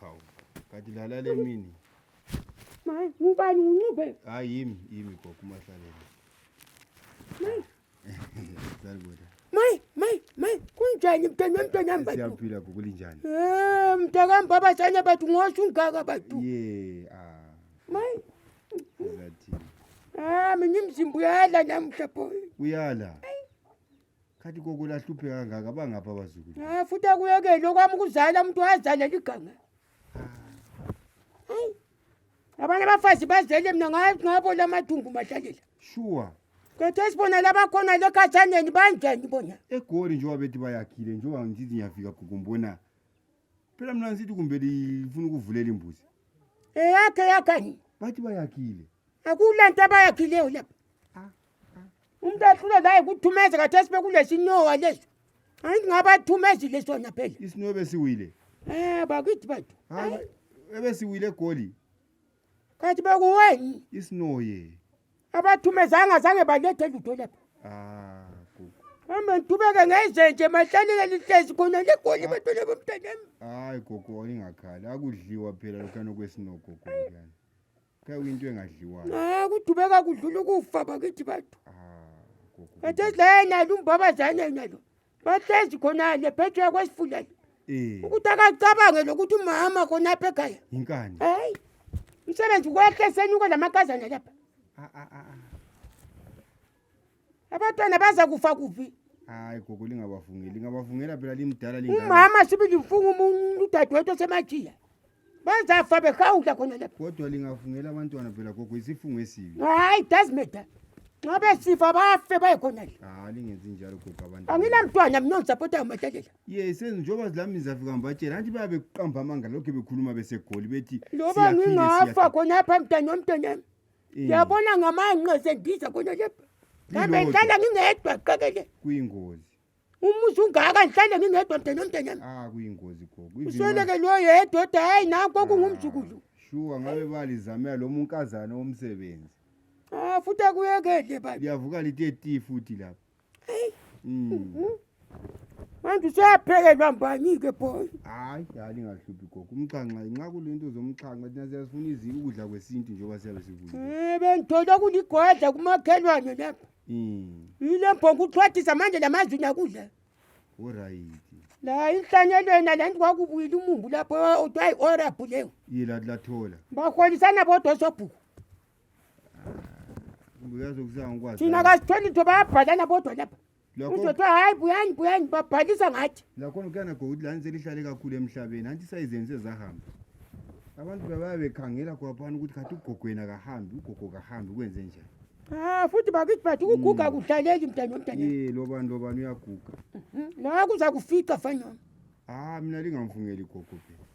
Hawu, kanti lala le mini. Mayi, ngubani uncube? Hayi yimi, yimi gogo uMahlalele. Mayi. Salibona. Mayi, mayi, mayi, kunjani mntwana wemntwana wami bathu? Siyaphila gogo linjani? Eh, mntakami baba sanye bathu ngosho ungaka bathu. Ye, ah. Mayi. Ngathi Ah, mina imzimba uyala namhla boy. uyala. khathi koko lahluphe kangaka bangapha abazukulu Ah, futhi akuyekeli okwami ukuzala umuntu wazalela iganga hayi abanye abafazi bazele mina nga- ngabola amathumbu madlalela shuwa khetha esibona labakhona lekhathaneni banjani bona egoli njengoba bethi bayakhile njengoba ngithi ngiyafika gogo ngibona phela mna nsithi kumbe lifuna ukuvulela imbuzi eyakhe yakhani bathi bayakhile akula nto abayakhileyo lapha ah, ah. umntu ahlule laye kuthumeze kathesi bekulesinowa leso hayi ndingabathumezile sona phela isinowa ebesiwile um bakithi bathu ebesiwile egoli Kathi bekuweni. Isinoye. Abathumezanga zange balethe lutho lapha. Ah, gugu. Hamba ngithubeke ngezenje mahlalile lihlezi khona legoli bantwana bomntanami. Hayi gogo olingakhali akudliwa phela lokhana kwesino gogo lana. Kaya into engadliwayo. Ah, kuthubeka kudlula ukufa bakithi bathu. Ah, gogo. Kathi ezayena lumbabazana yena lo. bahlezi khona le phethwe kwesifuleni eh ukuthi akacabange lokuthi umama khona apha ekhaya inkani hayi umsebenzi kwehle senyuke lamakazana lapha Ah, ah, ah, ah. abantwana baza kufa kuphi hayi gogo lingabavungeli lingabavungela phela limdala lingaka umama sibili mfunga umuntu udadewethu osemajiya Benza fabe khawuta khona lapha. Kodwa lingafungela abantwana phela gogo isifungo esibi. Hayi does matter. Nxa besifa bafe baye khona le. Hayi lingenzi njalo gogo abantu. Anginamntwana mina ngisapota uMadlalela. Yes, njengoba zilami zafika ngibatshela anti bayabe kuqamba amanga lokho bekhuluma besegoli bethi Loba siyaphila, ngingafa siyaphila. khona apha mntana womntanami. Eh, Ngiyabona ngamanqe sendiza khona lapha. Kambe Lilodwa. ngihlala ngingedwa qekele. Kuyingozi. umuzi ungaka ngihlale ngingedwa mdeni omdeni yami ah kuyingozi gogo usweleke loyo yedwa oda hayi nakho ah, kungumzukulu shuwa ngabe balizamela lo munkazana womsebenzi ah futhi akuyekele baba liyavuka lithi eti futhi lapha hmm. mhm. manje useyaphekelwa mbani-ke boy hayi hayi lingahluphi gogo umxhanxa nxa kulento zomxhanxa thina siyasifuna izinto ukudla kwesintu njengoba siyabe sivuye um eh, bengithola kuligodla kumakhelwane lapha Mm. Yile mbongo uthwathisa manje lamazwi nakudla. Alright. La inhlanyelo yena la ndi kwakubuyile umumbu lapho odwa hayi orabhu leyo. Yila lathola. Baholisana bodwa sobhuku. Uyazi ukuzanga ukwazi. Thina kasitholi thoba yabhalana bodwa lapha. Lokho Uzothi hayi buyani buyani babhalisa ngathi. lakho kuyana gokuthi lani selihlale kakhulu emhlabeni hanti sayizenze zahamba. Abantu bayabe bekhangela kwaphana ukuthi khathi ugogwena kahambi, ugogo kahambi kwenze njani. Ah, futhi bakithi bathi ukuguga hmm. akudlaleki mntana womntana. Eh, lobani lobani uyaguga. Mhm. Nawe kuza kufica fanyona. Ah, mina lingamfungeli gogo phela.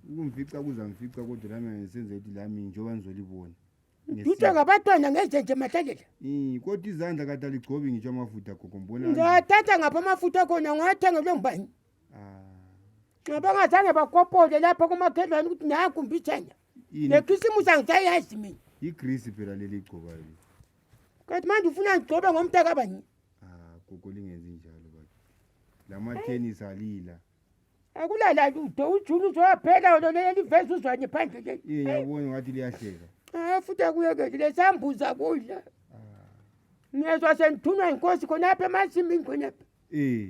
Ukumfica kuzamfica kodwa lami ngisenze ukuthi lami njengoba ngizolibona. Ngithe ngabatwana ngenze nje mathalela. Eh, kodwa izandla kade aligcobi ngitsho amafutha gogo mbona. Ngathatha ngapha amafutha khona ngiwathenga kulo ngubani. Ah. Nxa bangazange bakopole lapho kumakhelwane ukuthi naku mbithenya. Yini? nekhisimusi angisayazi mina Igrisi phela leli igcoba leli. kanti manje ufuna ngigcobe ngomntakabani Ah, gogo lingenzi njalo baba. Lama tennis alila. akulala lutho ujuni uzowaphela lona leliveza uzwane phandle leli Yeye yabona ngathi liyahleka. Ah, futhi akuyekeli lesambuza kudla Ah. ngiyezwa sengithunwa yinkosi khonapha emasimini khonapha Eh,